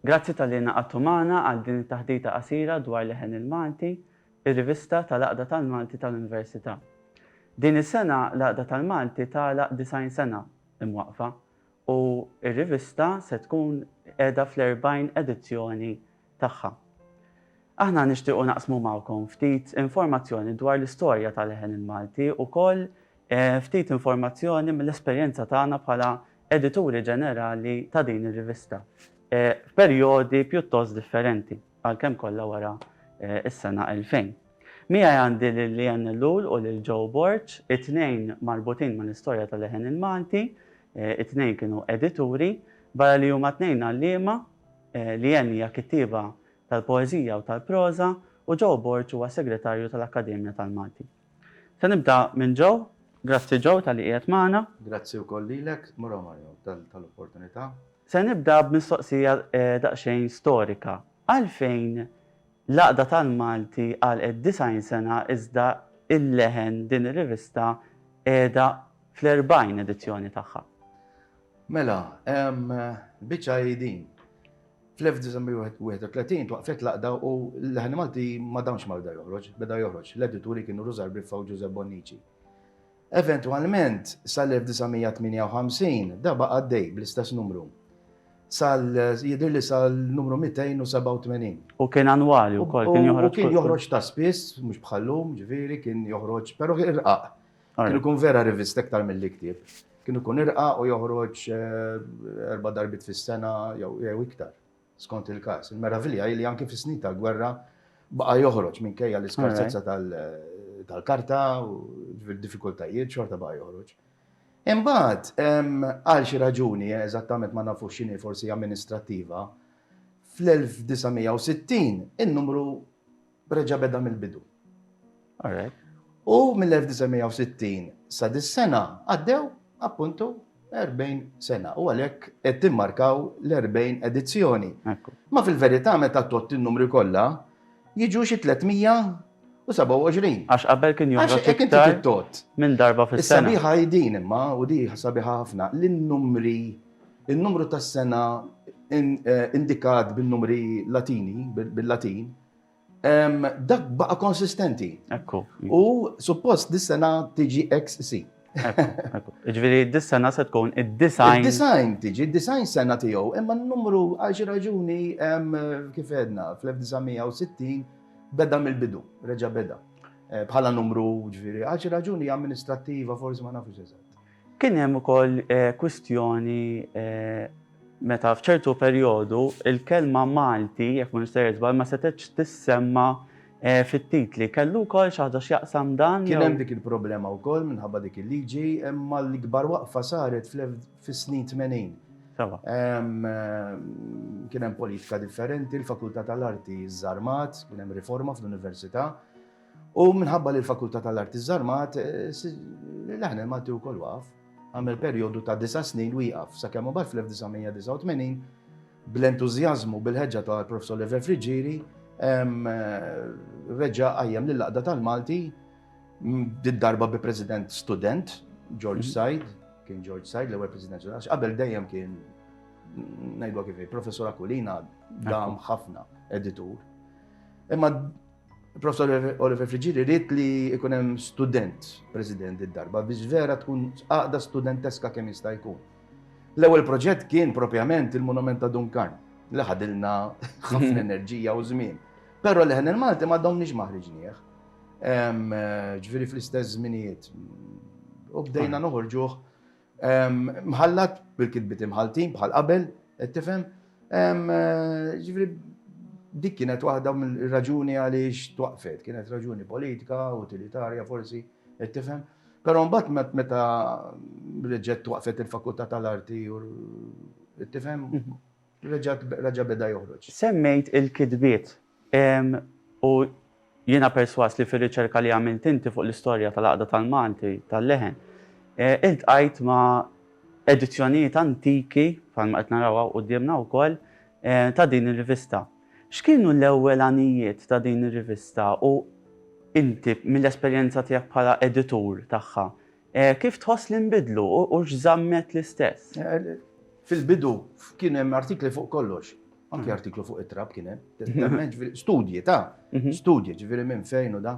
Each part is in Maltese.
Grazzi talli ingħaqadtu magħna għal din it-taħdita qasira dwar Leħen il-Malti, ir-rivista tal-Għaqda tal-Malti tal-Università. Din is-sena l-Għaqda tal-Malti tagħlaq 90 sena imwaqqfa u r-rivista se tkun qiegħda fl-40 edizzjoni tagħha. Aħna nixtiequ naqsmu magħkom ftit informazzjoni dwar l-istorja ta' Leħen il-Malti u wkoll ftit informazzjoni mill-esperjenza tagħna bħala Edituri Ġenerali ta' din ir-rivista f'perjodi pjuttost differenti. għalkemm kollha wara s-sena 2000. Miegħi għandi lil Leanne Ellul u lil Joe Borg, it-tnejn marbutin mal-istorja tal-leħen il-Malti, it-tnejn kienu edituri, barra li huma t-tnejn għalliema, Leanne hija kittieba tal-poeżija u tal-proża u Joe Borg huwa segretarju tal-Akkademja tal-Malti. Se nibda minn Joe. Grazzi Joe talli qiegħed magħna. Grazzi wkoll lilek, Mura Mario, tal-opportunità. Se nibda b'mistoqsija daqsxejn storika. Għalfejn l-Għaqda tal-Malti għalqet 90 sena iżda Il-Leħen, din ir-rivista, qiegħda fl-40 edizzjoni tagħha? Mela, biċċa hi din. Fl-1931 twaqfet l-għaqda u l-leħen Malti ma damx ma bda joħroġ, beda joħroġ. L-edituri kienu Rużar Briffa u Ġużepp Bonnici. Eventwalment, sal-1958 da baqa' għaddej bl-istess numru. Sal, jidhirli sal-numru 287. U kien annwali wkoll, kien joħroġ. U kien joħroġ ta' spiss, mhux bħal-lum, ġifieri, kien joħroġ, però irqaq. Kienu kun vera rivist iktar mill-li ktieb. Kienu kun irqa u joħroġ eh, erba darbit fis-sena jew iktar, skont il-kas. Il-meravilja li anki fis-snin tal-gwerra baqa joħroġ minkejja l-iskarsezza tal-karta u diffikultajiet xorta baqa joħroġ. Imbagħad, għal xi raġuni, eżattament ma nafux x'inhi forsi amministrattiva, fl-1960 in-numru Reġa' beda mill-bidu. U mill-1960 sa dis-sena għaddew, appuntu, 40 sena. U għalhekk qed timmarkaw l-40 edizzjoni. Ma fil-verità meta tgħodd in-numri kollha, jiġu xi 327. Għax qabel kien joħroġ iktar minn darba fis-sena. Is-sabiħa hi din imma, u di sabiħa ħafna, li n-numri In-numru tas-sena indikat bin-numri Latini, bil-Latin, dak baqa' konsistenti. Ekku. U suppost dis-sena tiġi XC. Ġifieri dis-sena se tkun id-design. Id-design tiġi, id-design sena tiegħu, imma n-numru għal xi raġuni kif għedna fl-1960 beda mill-bidu, reġa' beda. Bħala numru ġifieri għal xi raġuni amministrattiva forsi ma nafux eżatt. Kien hemm ukoll kwistjoni meta f'ċertu perjodu l-kelma Malti, jekk m'iniex sejjer żball, ma setgħetx tissemma fit-titli. Kellu wkoll xi ħaġa x'jaqsam dan jew? Kien hemm dik il-problema wkoll minħabba dik il-liġi, imma l-ikbar waqfa saret fis-snin tmenin. Kien hemm politika differenti, l-Fakultà tal-Arti żżarmat, kien hemm riforma fl-Università. U minħabba li l-Fakultà tal-Arti żżarmat, l-Aħner Malti wkoll waqaf. Għamel perjodu ta' disa' snin wieqaf sakemm imbagħad fl-1989 bl-entużjażmu bil-ħeġġa tal-Professor Lever Friggieri reġa' qajjem lill-Għaqda tal-Malti did-darba bi President student, George Said, kien George Said l-ewwel President student, għax qabel dejjem kien ngħidwa kif hi, Professor Aquilina dam ħafna editur. Imma Il-Professor Oliver Friggieri ried li jkun hemm student president id-darba biex vera tkun għaqda studenteska kemm jista' jkun. L-ewwel proġett kien propjament il-Monument ta' Dunkarn li ħadilna ħafna enerġija u żmien. Però li ħen il-Malti ma domniex maħriġnieh. Ġifieri fl-istess żminijiet. U bdejna noħorġuh Mħallat bil-kitbiet imħalltin bħal qabel, qed tifhem? Ġifieri dik kienet waħda mill-raġuni għaliex twaqfet, kienet raġuni politika, utilitarja forsi, qed tifhem? Però mbagħad meta reġgħet twaqfet il-Fakultà tal-Arti u qed tifhem? Reġa' beda joħroġ. Semmejt il-kitbiet Hemm, u jiena persważ li fir-riċerka li għamilt inti fuq l-istorja tal-għaqda tal-Malti tal-leħen, iltqajt ma' edizzjonijiet antiki, bħalma qed naraw hawn quddiemna wkoll, ta' din ir-rivista. X'kienu l-ewwel għanijiet ta' din ir-rivista u inti, mill-esperjenza tiegħek bħala editur tagħha, Kif tħoss li nbidlu u x'żammet l-istess? Fil-bidu kien hemm artikli fuq kollox. Anki artiklu fuq it-trab kien hemm. Studji ta' studji, ġifieri minn fejn u da.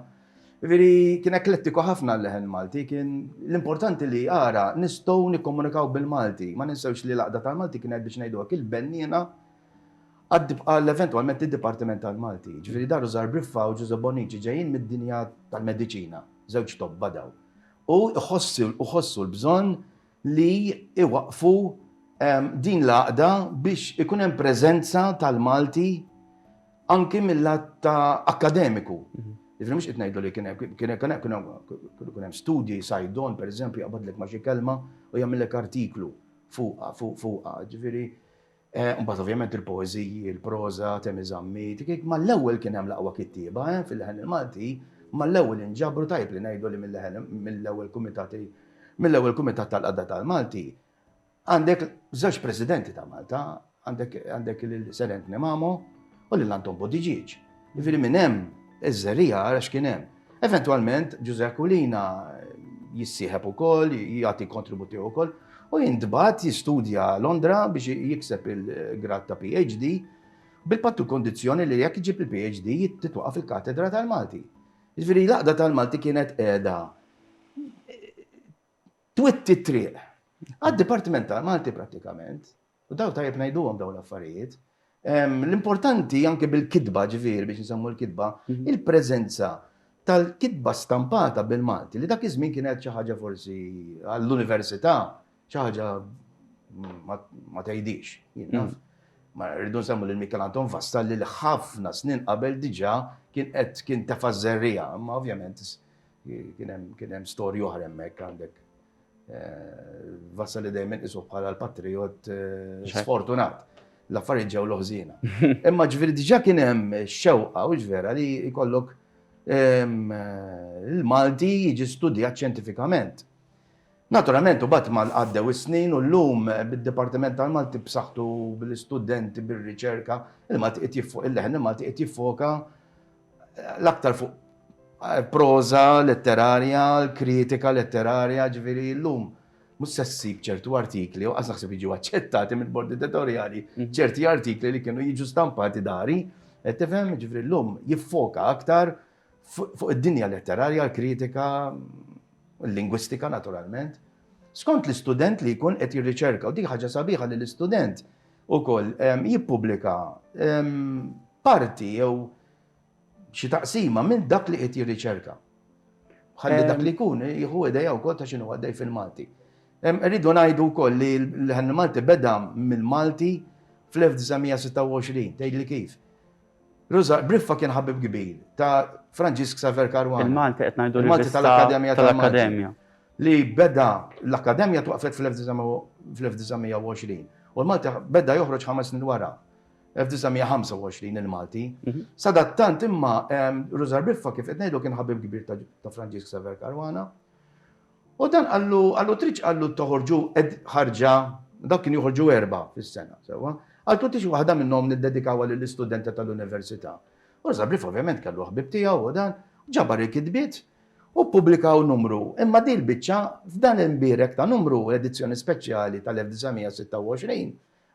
Ġifieri kien eklettiku ħafna l-leħen Malti, kien l-importanti li ara nistgħu nikkomunikaw bil-Malti. Ma ninsewx li l-Għaqda tal-Malti kienet biex ngħidu hekk il-benniena għal eventwalment id-Dipartiment tal-Malti. Ġifieri Daru Zarbriffa u Ġużè Bonnici ġejjin mid-dinja tal-mediċina, żewġ tobba dawn. U jħossu l-bżonn li jwaqqfu din l-għaqda biex ikun hemm preżenza tal-Malti anki mill-lat ta' akkademiku. Mhm. Ġifri mux itnejdu li kienem, kienem, kienem, kienem, kienem studji, sajdon, per eżempju, jgħabadlek ma kelma u jgħamillek artiklu fuqa, fuqa, ġifiri. Eh, mbagħad ovvjament il-poeżiji, il-proża, Temi Zammit, ma l-ewwel kien hemm laqwa kittieba eh, fil-leħen il-Malti, ma l-ewwel inġabru tajb li ngħidu li mill-ewwel kumitati mill-ewwel kumitat tal-qadda tal-Malti. Għandek żewġ presidenti ta' Malta, għandek il-Serent Nemamo u lil Anton Bodiġiġ. Jiġifieri minn hemm iż-żerriegħa ara x'kien hemm. Eventwalment Ġużè Aquilina jissieħeb ukoll, jagħti kontribut tiegħu wkoll u jintbagħat jistudja Londra biex jikseb il-grad ta' PhD bil-pattu kondizzjoni li jekk iġib il-PhD titwaqaf il-katedra tal-Malti. Jiġifieri l-għaqda tal-Malti kienet qiegħda twitti t-triq. Għad-Dipartiment ta' Malti prattikament, u daw tajjeb ngħiduhom daw l-affarijiet, l-importanti anke bil-kitba ġifieri biex nsemmu l-kitba, mhm. il-preżenza tal-kitba stampata bil-Malti li dak iż-żmien kienet xi ħaġa forsi għall-università xi ħaġa ma tgħidix. Mhm. Ma rridu nsemmu lil Mikel Anton Vasta li ħafna snin qabel diġà kien qed kien tefa' żerrija, ma ovvjament Kien hemm storja oħra hemmhekk għandek Vassali dejjem inqisu bħala l-patrijot sfortunat. L-affarijiet ġew loħżina. Imma ġifieri diġà kien hemm xewqa u ġvera li jkollok il-Malti jiġi studjat ċentifikament. Naturalment, u bat mal għaddew is-snin u l-lum bid-Dipartiment tal-Malti b'saħħtu bil-istudenti, bil-riċerka, il-Malti qed jiffoka, il-leħen il-Malti qed jiffoka l-aktar fuq proża letterarja, kritika letterarja, ġifieri llum mhux se ssib ċertu artikli, u qas naħseb jiġu aċċettati mill-bord editorjali, mm. ċerti artikli li kienu jiġu stampati dari, qed tifhem ġifri llum jiffoka aktar fuq id-dinja letterarja, l-kritika, l-lingwistika naturalment. Skont l-istudent li jkun qed jirriċerka, u dik ħaġa sabiħa li l-istudent ukoll jippubblika parti jew xi taqsima minn dak li qed jirriċerka. Ħalli dak li jkun jieħu idea wkoll ta' x'inhu għaddej fil-Malti. Rridu ngħidu wkoll li l-Ħanna Malti beda mill-Malti fl-1926, tgħidli kif? Briffa kien ħabib kbir ta' Franġisk Xavier Caruana. Il-Malti qed ngħidu li l-Malti tal-Akkademja tal-Akkademja. li beda l-Akkademja twaqqfet fl-1920 u l-Malti beda joħroġ ħames snin wara, 1925 il-Malti. Sadattant imma Rużar Biffa kif qed ngħidu kien ħabib kbir ta' Franġisk Xavier Caruana. U dan qallu qallu tridx qallu toħorġu ħarġa dawk kien joħorġu erba' fis-sena sewwa. Qaltu tix waħda minnhom niddedikawha lill-istudenti tal-università. U Rużar Biffa ovvjament kellu ħbieb tiegħu u dan ġabar il-kitbiet U ppubblikaw numru, imma din il-biċċa, f'dan il-mbierek ta' numru, l-edizzjoni speċjali tal-1926,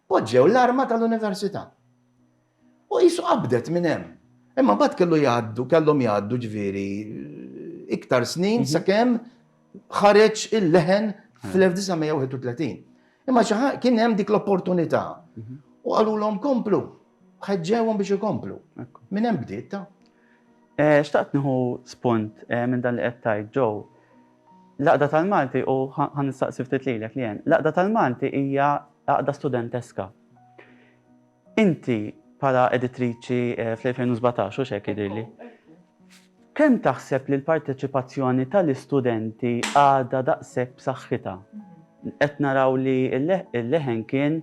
poġġew l-arma tal-Università. U qisu qabdet minn hemm. Imma mbagħad kellu jgħaddu, kellhom jgħaddu ġifieri iktar snin sakemm ħareġ il-leħen fl-1931. Imma xi ħaġa kien hemm dik l-opportunità u qalulhom komplu, ħeġġewhom biex ikomplu. Minn hemm bdiet ta'. Xtaqt nieħu spunt minn dan li qed tgħid, Joe. L-Għaqda tal-Malti u ħa nistaqsi ftit lilek, Leanne. L-Għaqda tal-Malti hija għaqda studenteska. Inti bħala editriċi fl-2017, hux hekk jidhirli, kemm taħseb li l-parteċipazzjoni tal-istudenti għadha daqshekk b'saħħitha? Qed naraw li l-leħen kien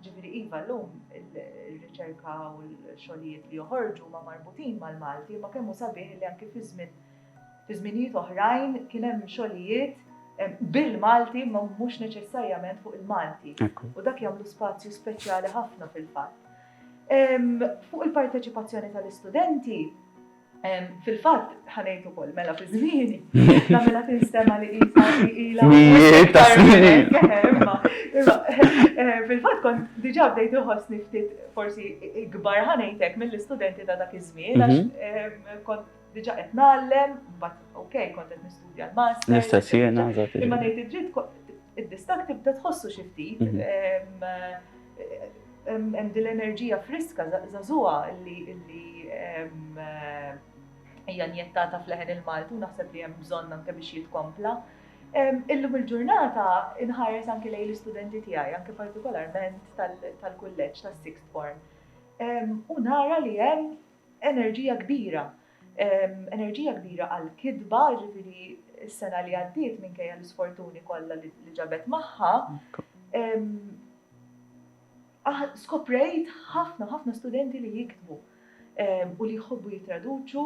Ġifieri iva llum ir-riċerka u l-xogħlijiet li joħorġu huma marbutin mal-Malti, imma kemm hu sabiħ li anki fi żmien fi żminijiet oħrajn kien hemm xogħlijiet bil-Malti imma mhux neċessarjament fuq il-Malti. U dak jagħmlu spazju speċjali ħafna fil-fatt. Fuq il-parteċipazzjoni tal-istudenti, Fil-fatt, ħa ngħid ukoll mela fi żmieni, ta' mela tinstema' li qisha li ilha. Mijiet ta' snin. Fil-fatt kont diġà bdejt inħossni ftit forsi ikbar ħa ngħid hekk mill-istudenti ta' dak iż-żmien għax kont diġà qed ngħallem, mbagħad okej kont qed nistudja l-masters. L-istess jiena, eżatt. Imma ngħid id-dritt id-distakk tibda tħossu xi ftit. Hemm din l-enerġija friska żagħżugħa li hija njettata fl-leħen il-Malti u naħseb li hemm bżonn anke biex jitkompla. Illum il-ġurnata inħares anke lejn l-istudenti tiegħi, anke partikolarment tal-kulleġġ tas-sixth form, u nara li hemm enerġija kbira, enerġija kbira għall-kitba, jiġifieri s-sena li għaddiet minkejja l-isfortuni kollha li ġabet magħha, Skoprejt ħafna ħafna studenti li jiktbu u li jħobbu jittraduċu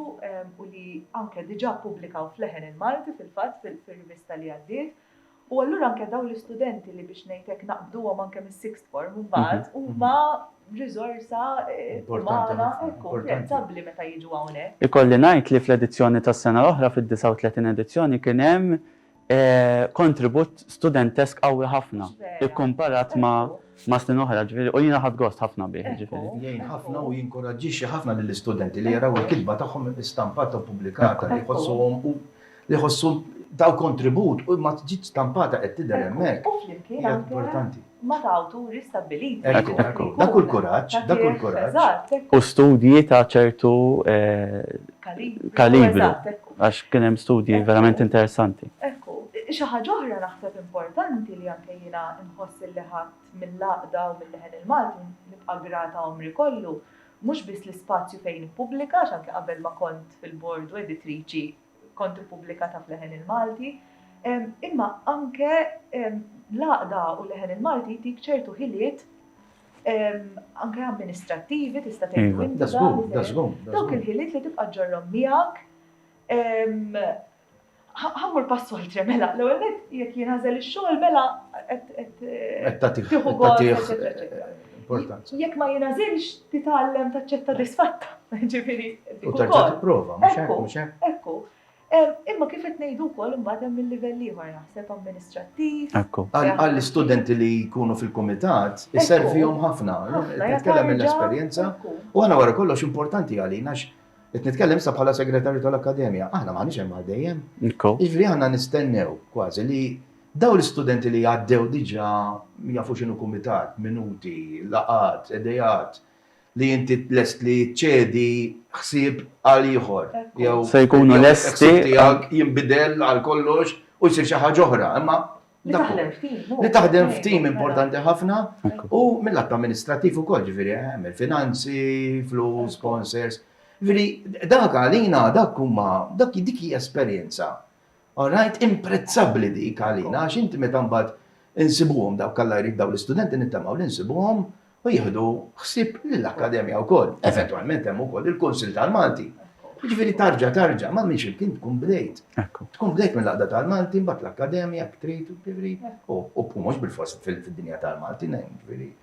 u li anke diġà ppubblikaw f'leħen il-Malti fil-fatt fir-rivista li għaddiet. U allura anke dawn l-istudenti li biex ngħid hekk naqbduhom anke mis-sixth form imbagħad huma riżorsa umana apprezzabbli meta jiġu hawnhekk. Ikolli ngħid li fl-edizzjoni tas-sena l-oħra, fid-39 edizzjoni, kien hemm kontribut studentesk qawwi ħafna ikkumparat ma' snin oħra, ġifieri, u jiena ħadt gost ħafna bih, ġifieri. Jgħin ħafna u jinkuraġġixxi ħafna lill-istudenti li jaraw il-kitba tagħhom istampata u ppubblikata li jħossuhom u li jħossu taw kontribut u ma ġiet stampata qed tidher hemmhekk. Hija importanti. ma' ta' awturi stabbiliti. Ekku, ekku. Dak hu l-kuraġġ, dak hu l-kuraġġ. Eżatt, ekku. U studji ta' ċertu kalibru, għax kien hemm studji verament interessanti. Ekku. Xi ħaġa oħra naħseb importanti li anke jiena nħoss illi ħadt mill-għaqda u mil-leħen il-Malti u nibqa' grata għomri kollu, mhux biss l-ispazju fejn nippubblika, għax anke qabel ma kont fil-bord u editriċi kont ippubblikata f'Leħen il-Malti, imma anke l-għaqda u Leħen il-Malti jtik ċertu ħiliet anke amministrattivi tista' tgħidu inti. Dawk il-ħiliet li tibqa' ġorrom miegħek. Ħammur pass oltre mela, l-ewwel nett jekk jinħażel ix-xogħol mela qed tieħu gost. Importanti. Jekk ma jingħażilx, titgħallem taċċetta disfatta. Ġifieri. U terġa' tipprova, mhux hekk, mhux hekk. Ekku. Imma kif qed ngħidu wkoll imbagħad hemm il-livell ieħor naħseb amministrattiv. Ekku. Għall-istudenti li jkunu fil-kumitat, iservihom ħafna. Nitkellem mill-esperjenza. U għana wara kollox importanti għalina Qed nitkellem sa bħala segretarju tal-Akkademja, aħna m'aħniex hemm għal dejjem. Jiġri aħna nistennew kważi li Dawn l-istudenti li għaddew diġà jafu x'inhu kumitat, minuti, laqgħat, għedejat, li inti lest li ċċedi ħsieb għal ieħor jew Se jkunu lesti. il-ħsieb tiegħek jinbidel għal kollox u jsir xi ħaġa oħra, imma Li dak hu. taħdem f'tim. hu. Li taħdem f'tim Mela. importanti ħafna Ekku. u mill-att amministrattiv ukoll, ġifieri hemm il-finanzi, flus, sponsors. Ġifieri dak għalina dak huma dak dik hija esperjenza All right, imprezzabbli dik għalina għax inti meta mbagħad insibuhom dawk Alla jrid dawn l-istudenti nittamaw li nsibuhom u jieħdu ħsieb lill-Akkademja wkoll. Eventwalment hemm ukoll il-Kunsill tal-Malti. Jiġifieri tarġa' tarġa' ma' minn ximkien tkun bdejt. Tkun bdejt mill-Għaqda tal-Malti, mbagħad l-Akkademja, ktrit, u mhux bil-fost fid-dinja tal-Malti, jiġifieri.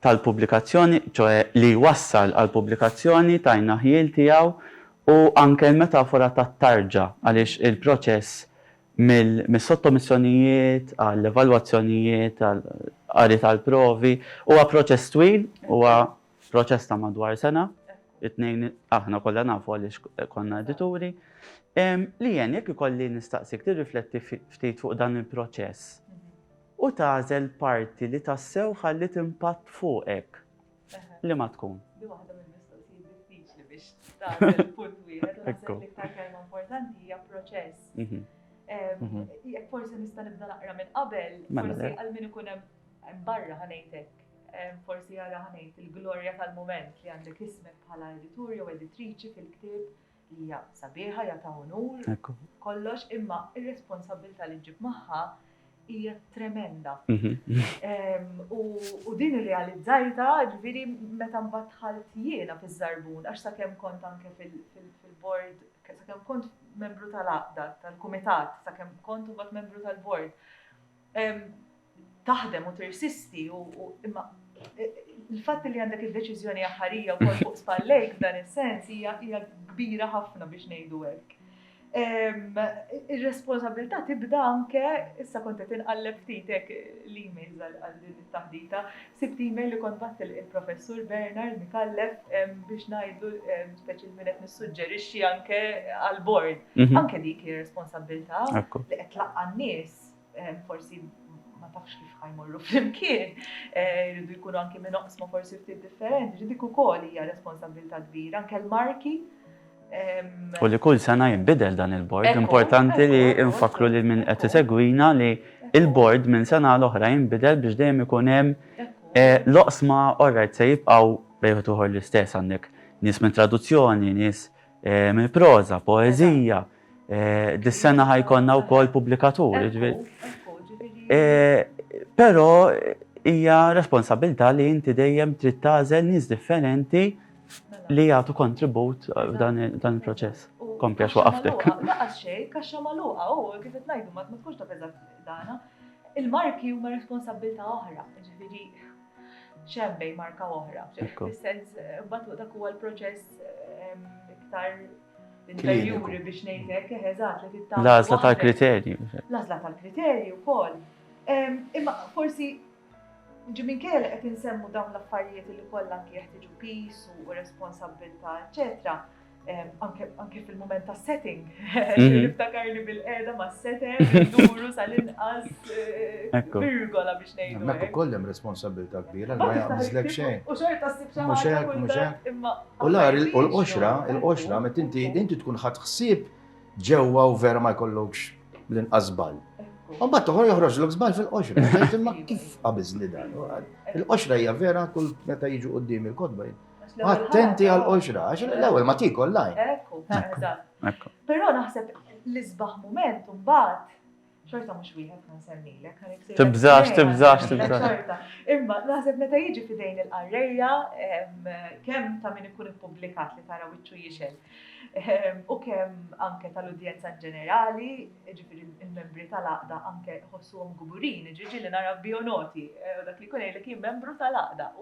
tal-pubblikazzjoni, ċoe li jwassal għall-pubblikazzjoni, tajna ħjiel tiegħu, u anke l-metafora tat-tarġa għaliex il-proċess mis-sottomissjonijiet għall-evalwazzjonijiet għall-qari tal-provi huwa proċess twil, huwa proċess ta' madwar sena, it-tnejn aħna kollha nafu għaliex konna edituri. Lian, jekk ikolli nistaqsik tirrifletti ftit fuq dan il-proċess u tagħżel parti li tassew ħalliet impatt fuqek, liema tkun? Din waħda mill-mistoqsijiet diffiċli biex tagħżel punt wieħed u naħseb li l-iktar kelma importanti hija proċess. Jekk forsi nista' nibda naqra minn qabel, mela forsi għal min ikun hemm barra ħanejtek, forsi jara ħanejt il-glorja tal-mument li għandek ismek bħala editur jew editriċi fil-ktieb Hija sabiħa, hija ta' unur, kollox, imma r-responsabbiltà li ġġib magħha hija tremenda. U din irrealizzajta, ġifieri meta mbagħad dħalt jiena fiż-żarbun, għax sakemm kont anke fil-bord, sakemm kont membru tal-għaqda, tal-kumitat, sakemm kont imbagħad membru tal-bord. taħdem u tirsisti u imma il-fatt li għandek id-deċiżjoni aħħarija wkoll fuq spallejk f'dan is-sens hija kbira ħafna biex ngħidu hekk. Ir-responsabilità tibda anke issa kont qed inqalleb ftit hekk l-emails għal din it-taħdita. Sibt email li kont batt il-professur Bernard Mikallef biex ngħidu speċi minn qed nissuġġerixxi anke għall-bord. Mhm. Anke dik ir-responsabilità li qed tlaqqa' nies forsi ma tafx kif ħajmorru flimkien, jridu jkunu anki minn oqsma forsi ftit differenti, ġi dik ukoll hija responsabilità kbira, anke l-marki. U li kull sena jinbidel dan il-bord, importanti li nfakkru lil min qed isegwina li l-bord minn sena għal oħra jinbidel biex dejjem ikun hemm l-oqsma orajt se jibqgħu bejn wieħed u ieħor l-istess, għandek nies mit-traduzzjoni, nies mill-proża, poeżija, Dis-sena ħa jkollna wkoll pubblikatur. Però hija responsabilità li inti dejjem trid tagħżel nies differenti li jagħtu kontribut f'dan il-proċess. Kompli għax waqaftek. Laqas xejn, kaxxa magħluqa u kif qed ngħidu ma tkunx taf eżatt dana. Il-marki huma responsabilità oħra, jiġifieri xembej marka oħra. Fis-sens, bat dak huwa l-proċess ehm, iktar interjuri biex ngħidlek eżatt li tittam. L-għażla tal-kriterju. L-għażla tal-kriterju wkoll. Ehm, imma forsi ġimin kejja li qed insemmu dawn l-affarijiet li kollha jeħtiġu pis u responsabilità, eċetera. anke fil-moment ta' setting, mhm. niftakarni bil-qeda ma' setem, duru sal-inqas eh, virgola biex nejdu. Mek u kollem responsabilta kbira, ma jgħamizlek xejn. U xorta s-sib xejn. Muxek, muxek. U l-għar, il-qoxra, il-qoxra, met inti, inti tkun ħat xsib ġewwa u vera ma jkollokx l-inqas bal. U bat toħor joħroġ l zbal fil-qoxra. Imma kif qabizli dan? Il-qoxra hija vera kull meta jiġu qoddim il-kodba Attenti għal qoxra, għax l-ewwel ma tikol lajn. Ekku, ekku. Però naħseb l-isbaħ moment mbagħad xorta mhux wieħed ma nsemmilek. Tibżax, tibżax, tibżax. Imma naħseb meta jiġi fidejn il-qarrejja kemm ta' min ikun ippubblikat li tara wiċċu jixel. Ehm, u kemm anke tal-udjenza ġenerali, ġifiri il-membri tal-aqda anke ħossuhom guburin, ġiġi li nara bionoti, eh, dak li kun jgħidlek jien membru tal-aqda.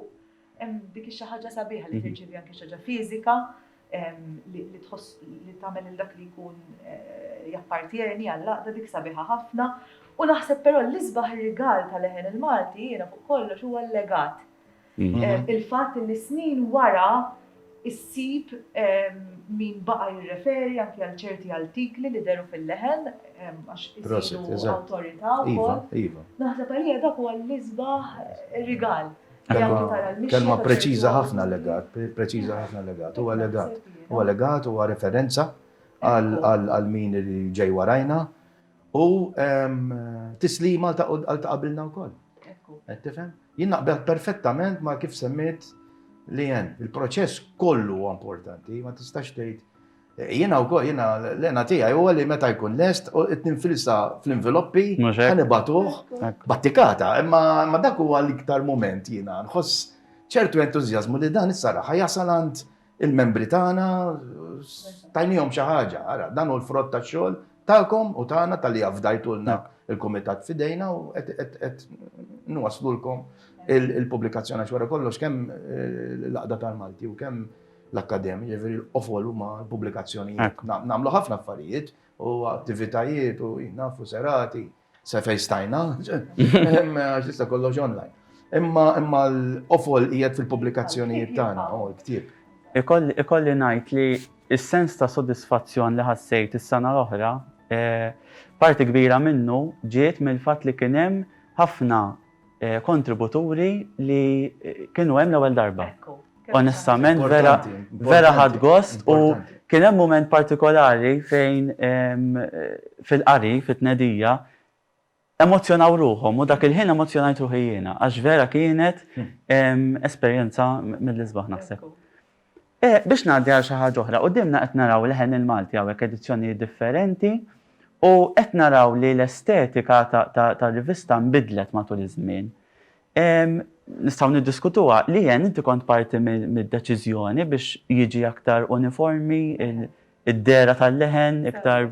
Hemm dik xi ħaġa sabiħa li tirċievi anke xi ħaġa fiżika li tħoss li tagħmel il dak li jkun eh, jappartjeni għall-laqda dik sabiħa ħafna. U naħseb però l-isbaħ rigal tal-leħen il-Malti jiena fuq kollox huwa l-legat. Mhm. Eh, il-fatt li snin wara issib min baqa jirreferi anke għal ċerti artikli li deru fil-leħen għax isiru awtorità iva, wkoll. Iva. Naħseb għalija dak huwa l-isbaħ rigal. Kelma preċiża ħafna legat, preċiża ħafna legat, huwa legat, huwa legat, huwa referenza għal min li ġej warajna u tislima għal ta' qabilna wkoll. Qed tifhem? Jien naqbel perfettament ma' kif semmit li hemm. Il-proċess kollu huwa importanti, ma tistax tgħid Jiena wkoll, jiena l-għena tiegħi huwa li meta jkun lest, qed ninfilsa fl-inviloppi, ħa nibagħtuh battikata. Imma dak huwa l-iktar mument jiena nħoss ċertu entużjażmu li dan issa raħ jasal għand il-membri tagħna, tajniehom xi ħaġa. Ara, dan hu l-frott tax-xogħol tagħkom u tagħna talli afdajtulna l-kumitat f'idejna u qed nwaslulkom il-pubblikazzjoni għax wara kollox kemm l-Għaqda tal-Malti u kemm l-akkademja, ġifieri l-qofol huma l-pubblikazzjonijiet. Nagħmlu ħafna affarijiet u attivitajiet u nafu serati, se fejn stajna, għax tista' kollox online. Imma imma l-qofol qiegħed fil-pubblikazzjonijiet tagħna u l-ktieb. Ikolli ngħid li s-sens ta' sodisfazzjon li ħassejt is-sena l-oħra, parti kbira minnu ġiet mill-fatt li kien hemm ħafna kontributuri li kienu hemm l-ewwel darba. Onestament, vera, vera ħad gost u kien hemm mument partikolari fejn fil-qari, fit-tnedija, emozjonaw ruħhom u dak il-ħin emozjonajt ruħi jiena, għax vera kienet esperjenza mill-isbaħ naħseb. E, biex ngħaddi għal xi ħaġa oħra, quddiemna qed naraw leħen il-Malti hawnhekk edizzjonijiet differenti u qed naraw li l-estetika tar-rivista nbidlet matul iż-żmien. Nistgħu niddiskutuha, Lian inti kont parti mid-deċiżjoni biex jiġi aktar uniformi id-dehra tal-leħen iktar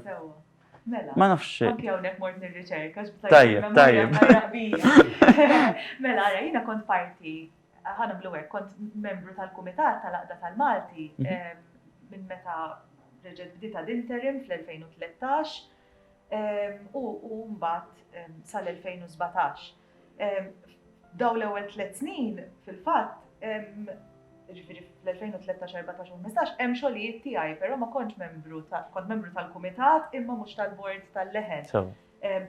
Mela. Ma nafx. Anke hawnhekk mort nirriċerka. Tajjeb, tajjeb. Mela, ara, jiena kont parti Ħa nagħmlu hekk, kont membru tal-Kumitat tal-Għaqda tal-Malti minn meta reġgħet bdiet ad interim fl-2013 u mbagħad sal-2017. Dawn l-ewwel tliet snin fil-fatt, jiġifieri fl-2013, 14 u 15, hemm xogħlijiet tiegħi, però ma kontx membru, kont membru tal-Kumitat imma mhux tal-Bord tal-Leħen.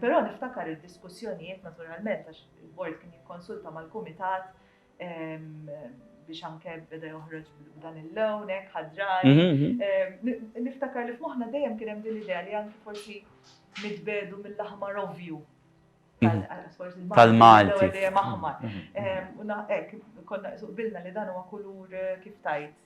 Però niftakar id-diskussjonijiet naturalment għax il-Bord kien jikkonsulta mal-Kumitat biex anke beda joħroġ b'dan il-lawn, hekk ħadrar. Niftakar li f'moħħna dejjem kien hemm din l-idea li anke forsi nitbedu mill-aħmar ovvju. Tal-Malti. Dejjem aħmar. U naqek, konna bilna li dan huwa kulur kif tajt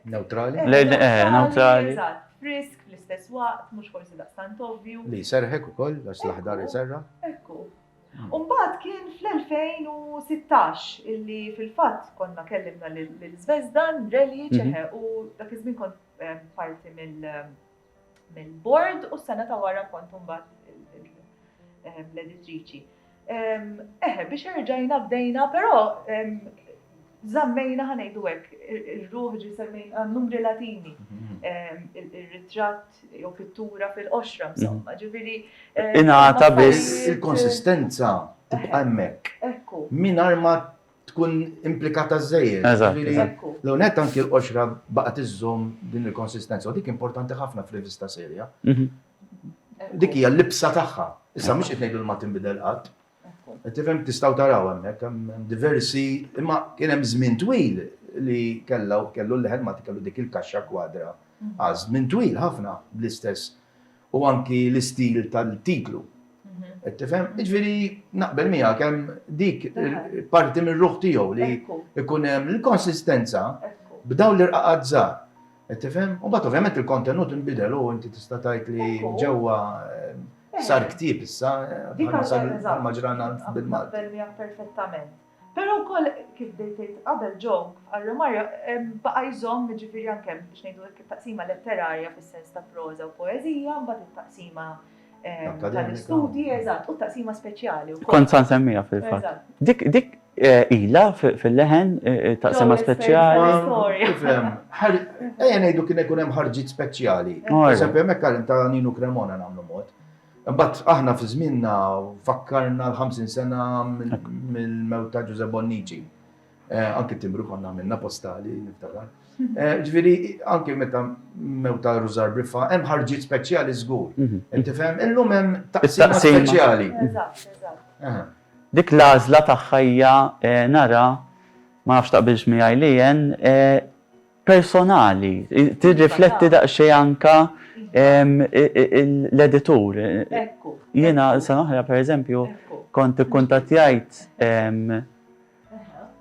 Neutrali? Le, le, eh, neutrali. Eżatt, frisk fl-istess waqt, mhux forsi daqstant ovvju. Li serħek ukoll, għax l-aħdar iserra. Ekku. Hmm. Umbagħad kien fl-2016 illi fil-fatt konna kellimna lil Zvezdan, Relic, mhm. u dak iż-żmien kont eh, parti mill- eh, mill-bord u s-sena ta' wara kont imbagħad l-editriċi. Eħe, biex erġajna bdejna, però zammejna ħanejdu hekk, ir-ruħ ġi semmejna numri latini, ir-ritratt jew pittura fil-qoxra, insomma, ġifieri. Ingħata biss il-konsistenza tibqa' hemmhekk. Ekku. Mingħajr ma tkun implikata żejjed. L-unet anki l-qoxra baqa tiżżomm din il-konsistenza u dik importanti ħafna f'rivista serja. Mhm. Dik hija l-libsa tagħha. Issa mhux qed ngħidu ma tinbidel qatt. Tifhem tistgħu taraw hemmhekk hemm diversi imma kien hemm żmien twil li kellha kellu l-leħen ma kellu dik il-kaxxa kwadra. Mhm. Għaż żmien twil ħafna bl-istess. u anki l-istil tal-titlu. Qed tifhem? Jiġifieri naqbel miegħek hemm dik parti mir-ruħ tiegħu li jkun hemm il-konsistenza b'dawn l-irqaqat żgħar. Qed tifhem? U mbagħad ovvjament il-kontenut inbidel u inti tista' tgħid li ġewwa sar ktieb issa ma ġralna bil-Malti. Naqbel miegħek perfettament. Però wkoll, kif bdejt tgħid qabel Jo, bħal Romario, baqa' jżomm, jiġifieri anke, biex ngħidu hekk, it-taqsima letterarja fis-sens ta' proża u poeżija, imbagħad it-taqsima tal-istudji, eżatt, u t-taqsima speċjali wkoll. Kont sa nsemmiha fil-fatt. Dik ilha fil-leħen, it-taqsima speċjali? Tifhem, ejja ngħidu kien ikun hemm ħarġiet speċjali. Pereżempju, hemmhekk għal ta' Ninu Cremona nagħmlu mod. Imbagħad aħna fi żmienna fakkarna l-50 sena mill-mewt ta' Ġużè Bonnici. Eh, anki timbru konna għamilna postali, niftakar. Eh, ġifieri anki meta mewt ta' Rużar Briffa hemm ħarġiet speċjali żgur. Mhm. Inti fhem illum hemm taqsima speċjali. Eh. Dik l-għażla tagħha hija nara ma nafx taqbilx miegħi li personali, tirrifletti daqsxejn anka l-editur. Jiena sena oħra pereżempju kont ikkuntattjajt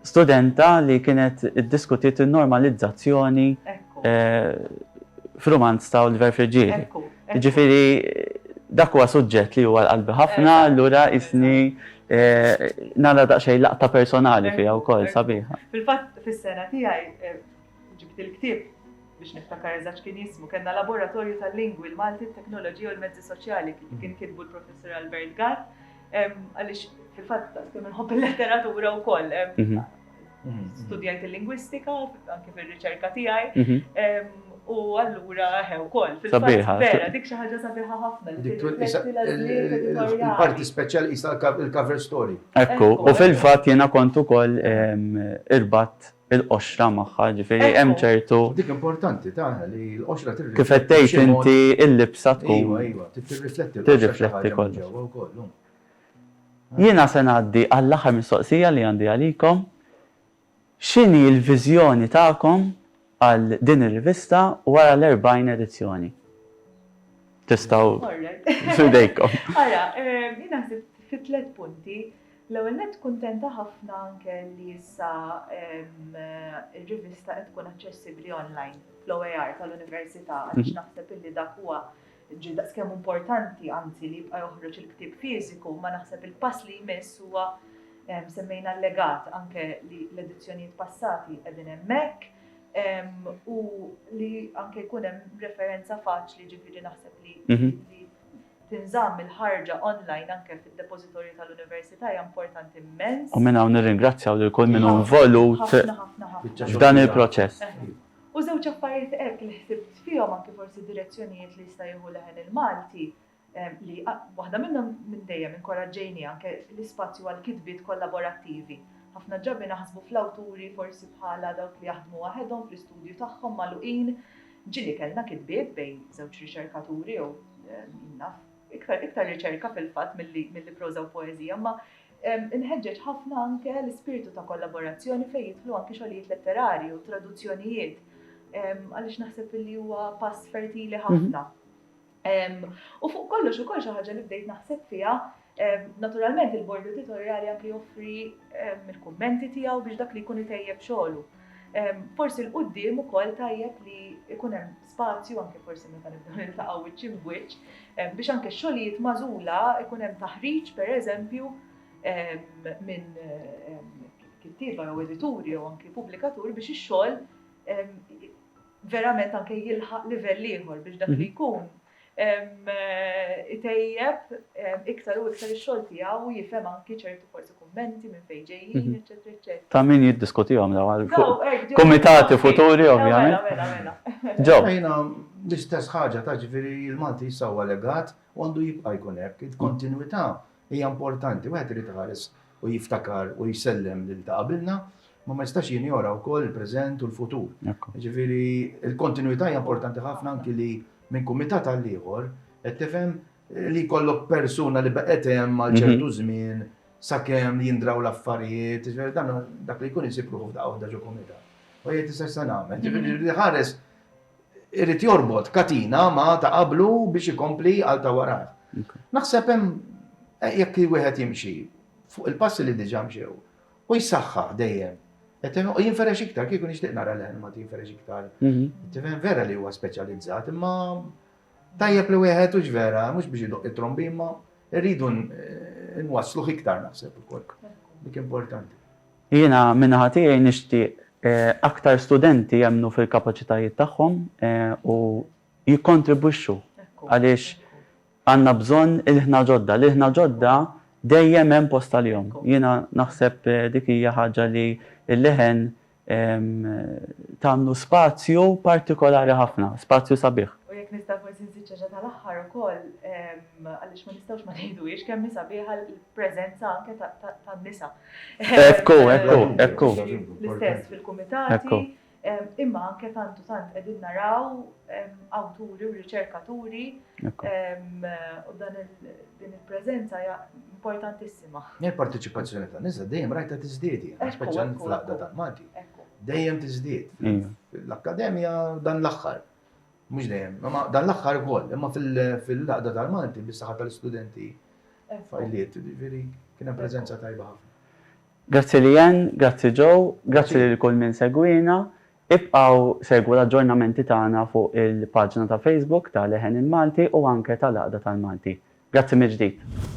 studenta li kienet iddiskutiet in-normalizzazzjoni f'rumanz ta' Oliver Friggieri. Jiġifieri dak huwa suġġett li huwa għal qalbi ħafna, allura qisni nara daqsxejn laqta personali fiha wkoll sabiħa. Fil-fatt fis-sena tiegħi ġibt il-ktieb biex niftakar eżatt x'kien jismu, kellna laboratorju tal-lingwi, l-Malti, it-teknoloġija u l-mezzi soċjali li kien kitbu l-Professur Albert Gatt, għaliex fil-fatt daqskemm inħobb il-letteratura wkoll, studjajt il-lingwistika, anke fir-riċerka tiegħi, u allura ħew kol. Sabiħa. Vera, dik xi ħaġa sabiħa ħafna. Il-parti speċjali jista' il-cover story. Ekku, u fil-fatt jiena kont ukoll irbat il-qoxra magħha, ġifieri hemm ċertu. Dik importanti tagħna li l-qoxra tirrifletti. Kif qed tgħid inti l-libsa tkun. Iva, iva, tirrifletti. Tirrifletti kollu. Jiena se ngħaddi għall-aħħar mistoqsija li għandi għalikom, x'inhi l-viżjoni tagħkom għal din ir-rivista wara l-erbgħin edizzjoni? Tistgħu, f'idejkom. Ara, jiena ħsibt fi tliet punti. L-ewwel nett kuntenta ħafna anke li issa r-rivista qed tkun aċċessibbli online fl-OER tal-Università għaliex naħseb illi dak huwa Ġie daqskemm importanti, anzi, li jibqa' joħroġ il-ktieb fiżiku, imma naħseb il-pass li jmiss huwa semmejna l-legat anke li l-edizzjonijiet passati qegħdin hemmhekk u li anke jkun hemm referenza faċli ġifieri naħseb li mhm. tinżamm il-ħarġa online anke fid-depożitorju tal-Università hija importanti immens. U minn hawn nirringrazzjaw lil kull min involut f'dan il-proċess. U żewġ affarijiet hekk li ħsibt fihom anki forsi direzzjonijiet li jista' jieħu Leħen il-Malti li waħda minnhom minn dejjem inkoraġġejniha anke l-ispazju għall-kitbiet kollaborattivi. Ħafna drabi naħsbu fl-awturi forsi bħala dawk li jaħdmu waħedhom fl-istudju tagħhom magħluqin. Ġieli kellna kitbiet bejn żewġ riċerkaturi jew jien naf iktar iktar riċerka fil-fatt milli proża u poeżija imma Inħeġġeġ ħafna anke l-ispirtu ta' kollaborazzjoni fejn jidħlu anke xogħlijiet letterarji u traduzzjonijiet għaliex naħseb li huwa pass fertili mhm. ħafna. U fuq kollox ukoll xi ħaġa li bdejt naħseb fiha Naturalment il-bord editorjali anke joffri il-kummenti tiegħu biex dak li jkun itejjeb xogħlu. Forsi l-qudiem ukoll tajjeb li jkun hemm spazju, anke forsi meta nibdew niltaqgħu wiċċ imb wiċċ, biex anke x-xogħlijiet magħżula ikun hemm taħriġ pereżempju minn kittieba jew edituri jew anke pubblikaturi biex ix-xogħol verament anke jilħaq livell ieħor biex dak li mhm. jkun itejjeb iktar u iktar ix-xogħol tiegħu u jifhem anki ċertu forsi kummenti minn fejn ġejjin, eċċetera, eċċetera. Ta' min jiddiskutihom dawn għal kumitati futuri ovvjament. Mela, mela, mela. Ġo. Jiena l-istess ħaġa ta' ġifieri l-Malti issa huwa legat u għandu jibqa' jkun hekk. Il-kontinwità hija importanti, wieħed irid iħares u jiftakar u jsellem lil ta' qabilna, ma ma jistax jinjora wkoll il-preżent u l-futur. Ġifieri l-kontinwità hija importanti ħafna anki li minn kumitat għal ieħor qed tifhem li jkollok persuna li baqgħet hemm għal ċertu żmien sakemm jindraw l-affarijiet, dak li jkun isib ruħu f'daqqa waħda ġo kumitat. U jgħid issa x'se nagħmel? Ġifieri jrid iħares irid jorbot katina ma' ta' qablu biex ikompli għal ta' warajh. Naħseb hemm eh, jekk wieħed jimxi fuq il-passi li diġà mxew u jsaħħaħ dejjem. U jinferex iktar, kieku nixtieq nara l-ħelma jinferex iktar. Mhm. Tifhem vera li huwa speċjalizzat, imma tajjeb li wieħed u vera, mhux biex idoq it-trombi, imma rridu eh, nwassluh iktar naħseb ukoll. Dik importanti. Jiena min-naħa tiegħi nixtieq aktar studenti jemmnu fil-kapaċitajiet tagħhom u jikkontribwixxu għaliex għandna bżonn ilħna ġodda. L-ilħna ġodda dejjem hemm post għalihom. Jiena naħseb dik hija ħaġa li l-leħen tagħmlu spazju partikolari ħafna, spazju sabiħ. U jekk nista' forsi nżid xi ħaġa tal-aħħar ukoll għaliex ma nistgħux ma ngħiduhiex kemm hi sabiħa l-preżenza anke tan-nisa. Ekku, ekku, ekku. L-istess fil-kumitati, imma anke tant u tant qegħdin naraw awturi u riċerkaturi u dan din il-preżenza hija importantissima. Il-parteċipazzjoni ta' nisa dejjem rajta tiżdied, speċjalment fl-għaqda tal-Malti. Dejjem tiżdied. L-akkademja dan l-aħħar. Mhux dejjem, imma dan l-aħħar ukoll, imma fil-laqda tal-Malti bis-saħħa tal-istudenti fajliet, jiġifieri kien hemm preżenza tajba ħafna. Grazzi Leanne, grazzi Joe, grazzi lil kull min segwiena. Ibqgħu segwu l-aġġornamenti tagħna fuq il-paġna ta' Facebook ta' Leħen il-Malti u anke ta' Laqda tal-Malti. Grazzi mill-ġdid.